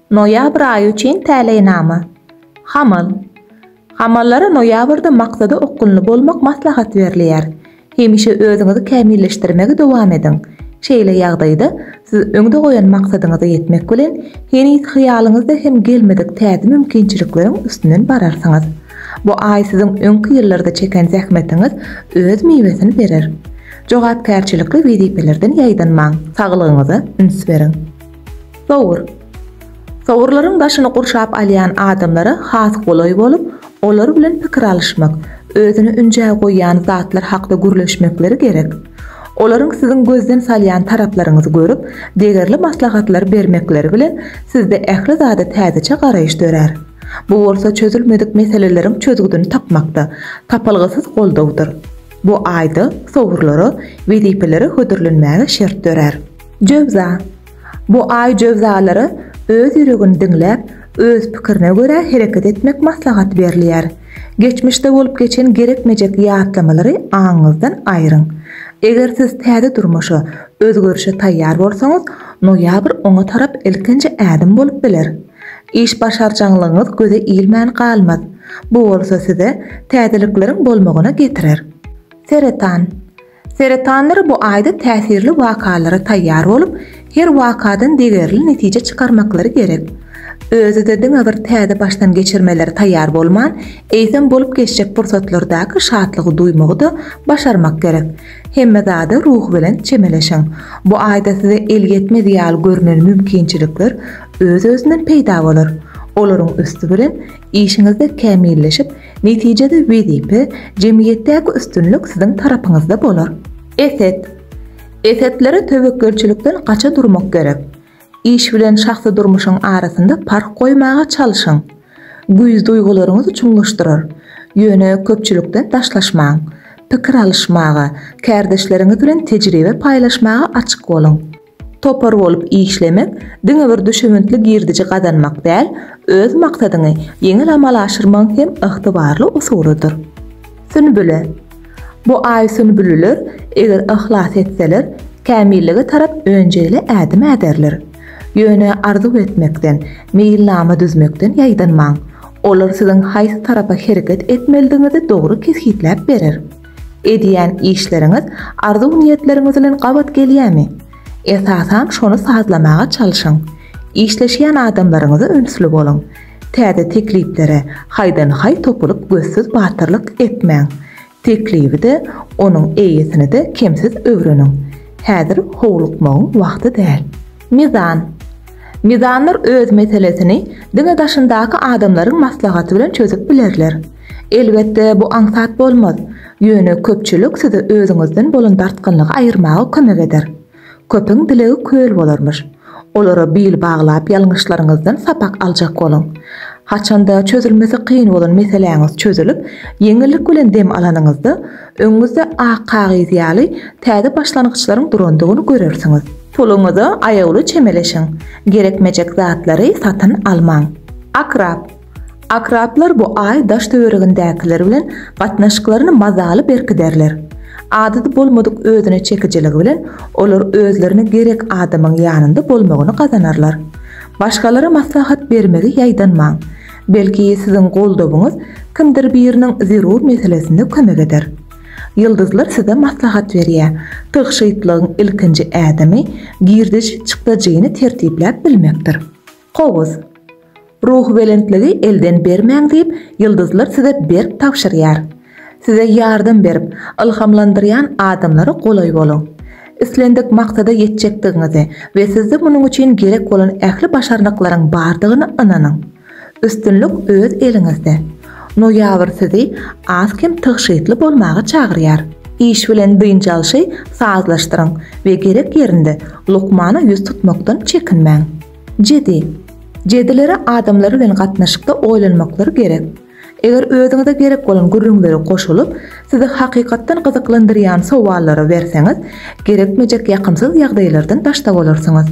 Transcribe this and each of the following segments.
Noýabr aýy üçin täleýnama. Hamal. Hamallara noýabrda maksada okgunly bolmak maslahat berilýär. Hemişe özüňizi kämilleşdirmegi dowam ediň. Şeýle ýagdaýda siz öňde goýan maksadyňyza ýetmek bilen, heniz hyýalyňyzda hem gelmedik täze mümkinçilikleriň üstünden bararsyňyz. Bu aý siziň öňki ýyllarda çeken zähmetiňiz öz miwesini berer. Jogapkärçilikli wezipelerden ýaýdanmaň, saglygyňyza üns beriň. Sowur. Sowurlaryň başyny gurşap alýan adamlara has golaý bolup, olar bilen pikir alyşmak, özüni ünjä goýýan zatlar hakda gürleşmekleri gerek. Olaryň siziň gözden salýan taraplaryňyzy görüp, degerli maslahatlar bermekleri bilen sizde ähli zada täzeçe garaýyş dörär. Bu bolsa çözülmedik meseleleriň çözgüdini tapmakda, tapylgysyz goldawdyr. Bu aýda sowurlara, wezipelere hödürlenmäge şert dörär. Jöwza. Bu aý jöwzalara öz ýüregini diňläp, öz pikirine görä hereket etmek maslahat berilýär. Geçmişde bolup geçen gerekmejek ýatlamalary aňyňyzdan aýryň. Eger siz täze durmuşa, özgerişe taýýar bolsaňyz, noýabr oňa tarap ilkinji ädim bolup biler. Iş başarjaňlygyňyz göze ilmän galmaz. Bu bolsa size täzelikleriň bolmagyna getirer. Seretan. Seretanlar bu aýda täsirli wakalara taýýar bolup, her wakadan degerli netije çykarmaklary gerek. Özi-de diňe bir täze başdan geçirmelere taýýar bolman, eýsem bolup geçjek pursatlardaky şatlygy duýmagy-da başarmak gerek. Hemme zada ruhubelent çemeleşiň. Bu aýda size elýetmez ýaly görnen mümkinçilikler öz-özünden peýda bolar. Olaryň üsti bilen işiňizde kämilleşip, Netijede wezipe, jemgyýetdäki üstünlik siziň tarapyňyzda bolar. Eset. Esetlere töwekgelçilikden gaça durmak gerek. Iş bilen şahsy durmuşyň arasynda parh goýmaga çalşyň. Güýz duýgularyňyzy çuňlaşdyrar. Ýöne köpçülikden daşlaşmaň. Pikir alyşmaga, kärdeşleriňiz bilen tejribe paýlaşmaga açyk boluň. Topar bolup işlemek diňe bir düşewüntli girdiji gazanmak däl, öz maksadyňy ýeňil amala aşyrmagyň hem ygtybarly usulydyr. Sünbüle. Bu aý sünbüliler eger yhlas etseler, kämillige tarap önjeýli ädim äderler. Ýöne arzuw etmekden, meýilnama düzmekden ýaýdanmaň. Olar siziň haýsy tarapa hereket etmelidigiňizi dogry kesgitläp berer. Edýän işleriňiz arzuw-niýetleriňiz bilen gabat gelýärmi? Esasan şony sazlamaga çalşyň. Işleşýän adamlaryňyza ünsli boluň. Täze tekliplere haýdan-haý topulyp gözsüz batyrlyk etmäň. Teklibi-de, onuň eýesini-de kemsiz öwreniň. Häzir howlukmagyň wagty däl. Mizan. Mizanlar öz meselesini diňe daşyndaky adamlaryň maslahaty bilen çözüp bilerler. Elbetde, bu aňsat bolmaz, ýöne köpçülik size özüňizden bolan dartgynlygy aýyrmaga kömek eder. Köpüň dilegi köl bolarmyş. Olara bil baglap ýalňyşlaryňyzdan sapak aljak boluň. Haçanda çözülmesi kyn bolan meseläňiz çözülip, ýeňillik bilen dem alanyňyzda, öňüňizde ak kagyz ýaly täze başlangyçlaryň durandygyny görersiňiz. Puluňyza aýawly çemeleşiň, gerekmejek zatlary satyn almaň. Akrap. Akraplar bu aý daş-töweregindäkiler bilen gatnaşyklaryny mazaly berkiderler. Adaty bolmadyk özüne çekijiligi bilen olar özlerine gerek adamyň ýanynda bolmagyny gazanarlar. Başgalara maslahat bermegi ýaýdanmaň. Belki, siziň goldawyňyz kimdir biriniň zerur meselesinde kömek eder. Ýyldyzlar size maslahat berýär, tygşytlygyň ilkinji ädimi girdeji-çykdajyny tertipläp bilmekdir. Kowus. Ruhubelentligi elden bermäň diýip, ýyldyzlar size berk tabşyrýar. Size ýardam berip, ylhamlandyrýan adamlara golaý boluň. Islendik maksada ýetjekdigiňize we sizde munuň üçin gerek bolan ähli başarnyklaryň bardygyna ynanyň. Üstünlik öz eliňizde! Noýabr sizi az-kem tygşytly bolmaga çagyrýar. Iş bilen dynç alşy sazlaşdyryň we gerek ýerinde lukmana ýüz tutmakdan çekinmäň. Jedi. Jedilere adamlar bilen gatnaşykda oýlanmaklary gerek. Eger özüňize gerek bolan gürrüňlere goşulyp, sizi hakykatdan gyzyklandyrýan sowallara berseňiz, gerekmejek ýakymsyz ýagdaýlardan daşda bolarsyňyz.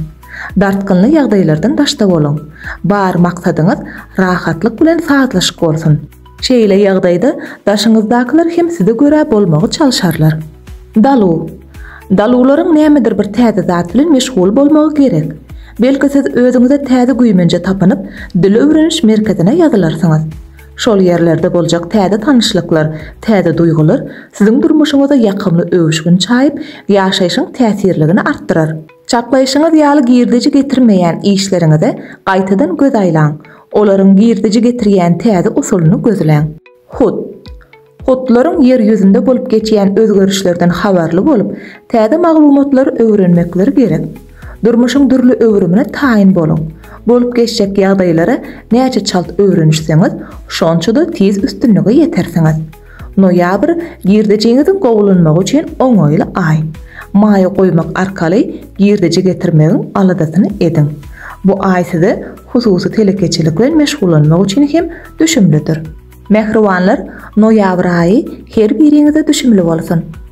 Dartgynly ýagdaýlardan daşda boluň. Bar maksadyňyz rahatlyk bilen sazlaşyk bolsun. Şeýle ýagdaýda daşyňyzdakylar hem size görä bolmagy çalşarlar. Dalu. Daluwlaryň nämedir bir täze zat bilen meşgul bolmagy gerek. Belki siz özüňize täze güýmenje tapynyp, dil öwreniş merkezine ýazylarsyňyz. Şol ýerlerde boljak täze tanyşlyklar, täze duýgular siziň durmuşyňyza ýakymly öwüşgin çaýyp, ýaşaýşyň täsirligini artdyrar. Çaklaýşyňyz ýaly girdeji getirmeýän işleriňize gaýtadan göz aýlaň, olaryň girdeji getirýän täze usulyny gözläň. Hut. Hutlaryň Ýer ýüzünde bolup geçýän özgerişlerden habarly bolup, täze maglumatlary öwrenmekleri gerek. Durmuşyň dürli öwrümine taýyn boluň. Bolup geçjek ýagdaýlara näçe çalt öwrenişseňiz, şonça-da tiz üstünlige ýetersiňiz. Noýabr girdejiňiziň gowulanmagy üçin oňaýly aý. Maýa goýmak arkaly girdeji getirmegiň aladasyny ediň. Bu aý size hususy telekeçilik bilen meşgullanmak üçin hem düşümlidir. Mähribanlar, noýabr aýy her biriňize düşümli bolsun!